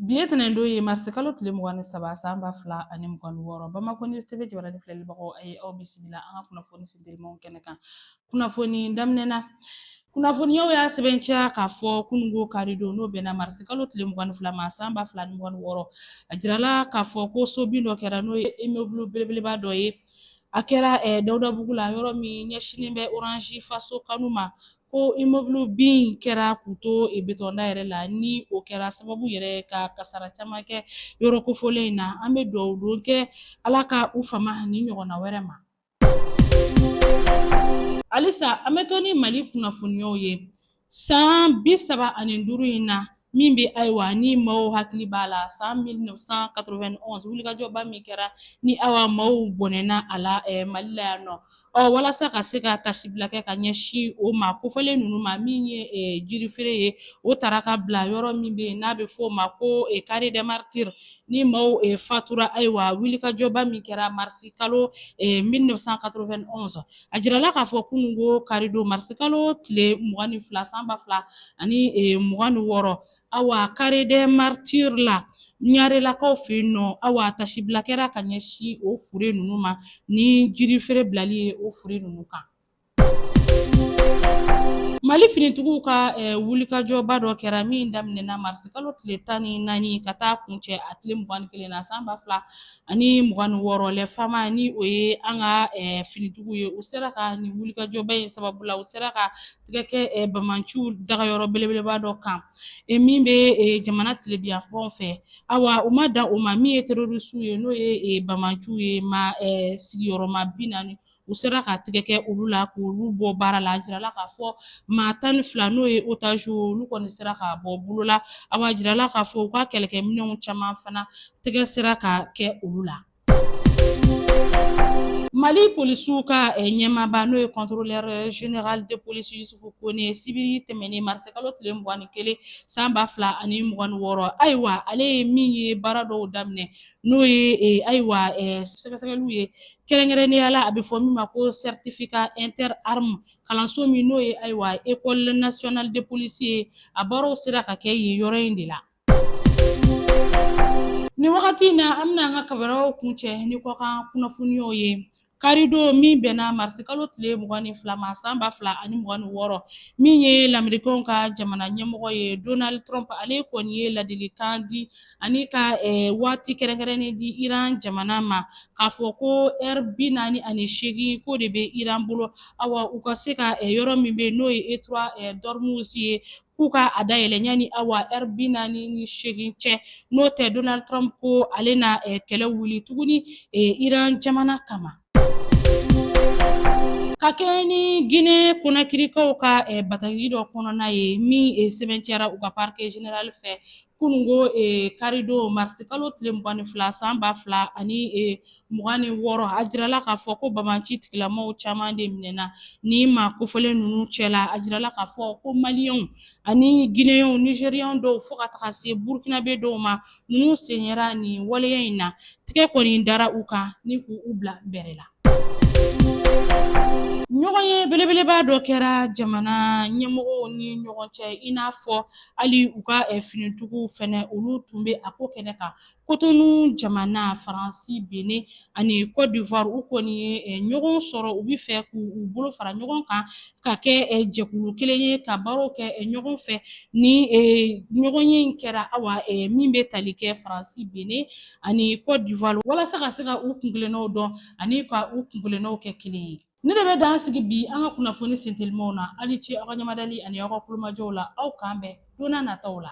Bi le tɛnɛndo ye marisi kalo tile mugan ni saba san ba fila ani mugan ni wɔɔrɔ bamakɔ news tv jabaranin filɛlibagaw a ye aw bisimila an ka kunnafoni sendirimaw kɛnɛ kan kunnafoni daminɛ na kunnafoniyaw y'a sɛbɛnciya k'a fɔ kunungo karidon n'o bɛnna marisi kalo tile mugan ni fila ma san ba fila ni mugan ni wɔɔrɔ a jirala k'a fɔ ko so bin dɔ kɛra n'o ye immeuble belebeleba dɔ ye a kɛra eh, dawudabugu la yɔrɔ min ɲɛsinnen bɛ oranzi faso kanu ma ko immeuble bin kɛra k'u to betɔnda yɛrɛ la ni o kɛra sababu yɛrɛ ka kasara caman kɛ yɔrɔ kofɔlen in na an bɛ dugawu don kɛ ala ka u fama nin ɲɔgɔnna wɛrɛ ma halisa an bɛ to ni mali kunnafoniyaw ye san bi saba ani duuru in na min bɛ ayiwa ni maaw hakili b'a la san 1991 wulikajɔba min kɛra ni awa maaw bɔnɛna a la eh, mali la yan nɔ ɔ walasa ka se ka tasibila kɛ ka ɲɛsin o maa kofɔlen ninnu ma min ye eh, jirifeere ye o taara ka bila yɔrɔ min bɛ yen n'a bɛ fɔ o ma ko eh, carré des martyrs ni maaw eh, fatura ayiwa wulikajɔba min kɛra marisi kalo eh, 1991 a jirala k'a fɔ kunun ko karidon marisikalo tile mugan ni fila san ba fila ani e, mugan ni wɔɔrɔ awa carré des martyrs la ɲarelakaw fɛ yen nɔ awa tasibila kɛra ka ɲɛsin o fure ninnu ma ni jirifeere bilali ye o fure ninnu kan mali finitigiw ka eh, wulikajɔba dɔ kɛra min daminɛna marisikalo tile tan ni naani ka taa kuncɛ a tile mugan ni kelen na san ba fila ani mugan ni wɔɔrɔ les fama ni o ye an ka finitigiw ye u sera ka nin wulikajɔba in sababu la u sera ka tigɛ kɛ bamanciw dagayɔrɔ belebeleba dɔ kan min bɛ jamana tilebinyanfan fɛ awa u ma dan o ma min ye terorisiw ye n'o ye bamanciw ye maa sigiyɔrɔma bi naani u sera ka tigɛ kɛ olu la k'olu bɔ baara la a jirala k'a fɔ maa tan ni fila n'o ye otaziw olu kɔni sera ka bɔ bolo la awa jirala k'a fɔ u ka kɛlɛkɛminɛnw caman fana tɛgɛ sera ka kɛ olu la mali polisiw ka eh, ɲɛmaaba n'o ye contrôleur eh, général de police yusufu kone sibiri tɛmɛnen marisikalo tile mugan ni kelen san ba fila ani mugan ni wɔɔrɔ ayiwa ale ye min ye baara dɔw daminɛ n'o ye eh, ayiwa eh, sɛgɛsɛgɛliw ye kɛrɛnkɛrɛnnenya la a bɛ fɔ min ma ko certificat interarmes kalanso min n'o ye ayiwa école nationale de police ye a baaraw sera ka kɛ yen yɔrɔ in de la nin wagati in na an bɛna an ka baaraw kuncɛ ni kɔkan kunnafoniyaw ye karidon min bɛnna marisikalo tile mugan ni fila ma san ba fila ani mugan ni wɔɔrɔ min ye lamerikanw ka jamana ɲɛmɔgɔ ye donald trump ale kɔni ye ladilikan di ani ka eh, waati kɛrɛnkɛrɛnnen di iran jamana ma k'a fɔ ko ɛri bi naani ani seegin ko o de bɛ iran bolo awa u ka se ka eh, yɔrɔ min bɛ n'o ye détroit eh, d'ormuz ye k'u ka a dayɛlɛ yanni awa ɛri bi naani ni seegin cɛ n'o tɛ donald trump ko ale na eh, kɛlɛ wuli tuguni eh, iran jamana kama ka kɛɲɛ ni gine konakirikaw ka eh, bataki dɔ kɔnɔna ye min eh, sɛbɛntiyara u ka parke general fɛ kunungo eh, karidon marisi kalo tile mugan ni fila san ba fila ani eh, mugan ni wɔɔrɔ a jirala k'a fɔ ko banbaanci tigilamɔgɔw caman de minɛna nin maa kofɔlen ninnu cɛla a jirala k'a fɔ ko maliyɛnw ani gineyɛnw nizeriyɛnw dɔw fo ka taga se burukinabe dɔw ma ninnu sen yera nin waleya in na tigɛ kɔni dara u kan ni k'u bila bɛrɛ la Ɲɔgɔnye belebeleba dɔ kɛra jamana ɲɛmɔgɔw ni ɲɔgɔn cɛ i n'a fɔ hali u ka eh, finitigiw fɛnɛ olu tun bɛ a ko kɛnɛ kan kotonu jamana faransi benɛn ani cote d'ivoire u kɔni ye eh, ɲɔgɔn sɔrɔ u bɛ fɛ k'u bolo fara ɲɔgɔn kan ka kɛ eh, jɛkulu kelen ye ka baaraw kɛ ɲɔgɔn fɛ nin ɲɔgɔnye in kɛra awa min bɛ tali kɛ faransi benɛn ani Cote d'Ivoire walasa ka se ka u kuntilennaw dɔn ani ka u kuntilennaw kɛ kelen ye. Nin de bɛ dan sigi bi an ka kunnafoni sentelimaw na. Aw ni ce aw ka ɲɛmadali ani aw ka kulomajɔw la. Awa k'an bɛn don n'a nataw la.